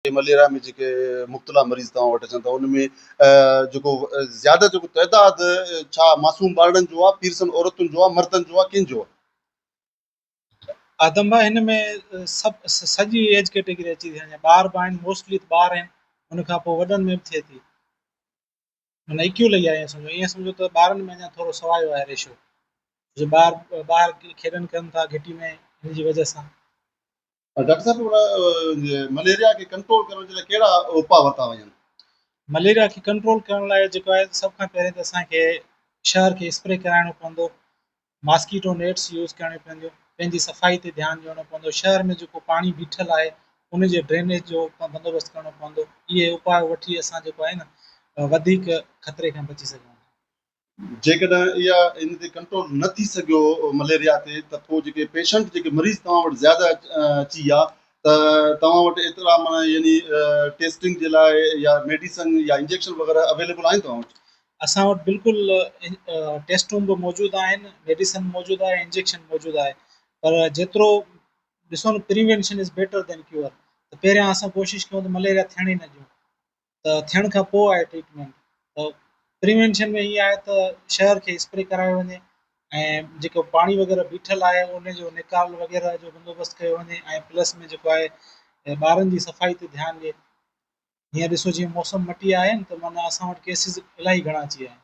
Malaria ۾ جيڪي مبتلا مريض توهان وٽ اچن ٿا ان ۾ جيڪو زياده جيڪو تعداد ڇا معصوم ٻارڙن جو آهي، پيرسن عورتن جو آهي، مردن جو آهي، ڪن جو آهي؟ آدم ڀائي هن ۾ سڀ سڄي ايج ڪيٽيگري اچي ٿي وڃي ٻار به آهن موسٽلي ته ٻار آهن ان کان پوء وڏن ۾ به ٿئي ٿي معنيٰ ايڪيول اهي آهي سمجھو ايئن سمجھو ته ٻارن ۾ اڃا ٿورو سوايو آهي ريشو جو ٻار ٻاهر کيڏن ڪن ٿا گھٽي ۾ ان جي وجہ سان ڊاڪٽر صاحب ان مليريا کي ڪنٽرول ڪرڻ جي لاء ڪهڙا اپاء ورتا وڃن؟ مليريا کي ڪنٽرول ڪرڻ لاء جيڪو آهي سڀ کان پهرين ته اسان کي شهر کي اسپري ڪرائڻو پوندو ماسڪيٽو نيٽس يوز ڪرڻيون پونديون پنهنجي صفائي تي ڌيان ڏيڻو پوندو شهر ۾ جيڪو پاڻي بيٺل آهي ان جي ڊرينيج جو بندوبست ڪرڻو پوندو اهي اپاء وٺي اسان جيڪو آهي نه وڌيڪ خطري کان بچي سگهون ٿا جيڪڏهن اها ان تي ڪنٽرول نه ٿي سگهيو مليريا تي ته پوء جيڪي پيشنٽ جيڪي مريض توهان وٽ زياده اچي ويا ته توهان وٽ ايترا معنيٰ يعني ٽيسٽنگ جي لاء يا ميڊيسن يا انجيڪشن وغيره اويليبل آهن توهان وٽ؟ اسان وٽ بلڪل ٽيسٽون به موجود آهن ميڊيسن موجود آهي انجيڪشن موجود آهي پر جيترو ڏسو نه prevention is better than cure ته پهريان اسان ڪوشش ڪيون ته مليريا ٿيڻ ئي نه ڏيون ته ٿيڻ کان پوء آهي ٽريٽمينٽ ته پريوينشن ۾ ايئن آهي ته شهر کي اسپري ڪرايو وڃي ۽ جيڪو پاڻي وغيره بيٺل آهي ان جو نيڪال وغيره جو بندوبست ڪيو وڃي ۽ پلس ۾ جيڪو آهي ٻارن جي صفائي تي ڌيان ڏئي هينئر ڏسو جيئن موسم مٽي آهي ته معنيٰ اسان وٽ ڪيسز الاهي گهڻا اچي ويا آهن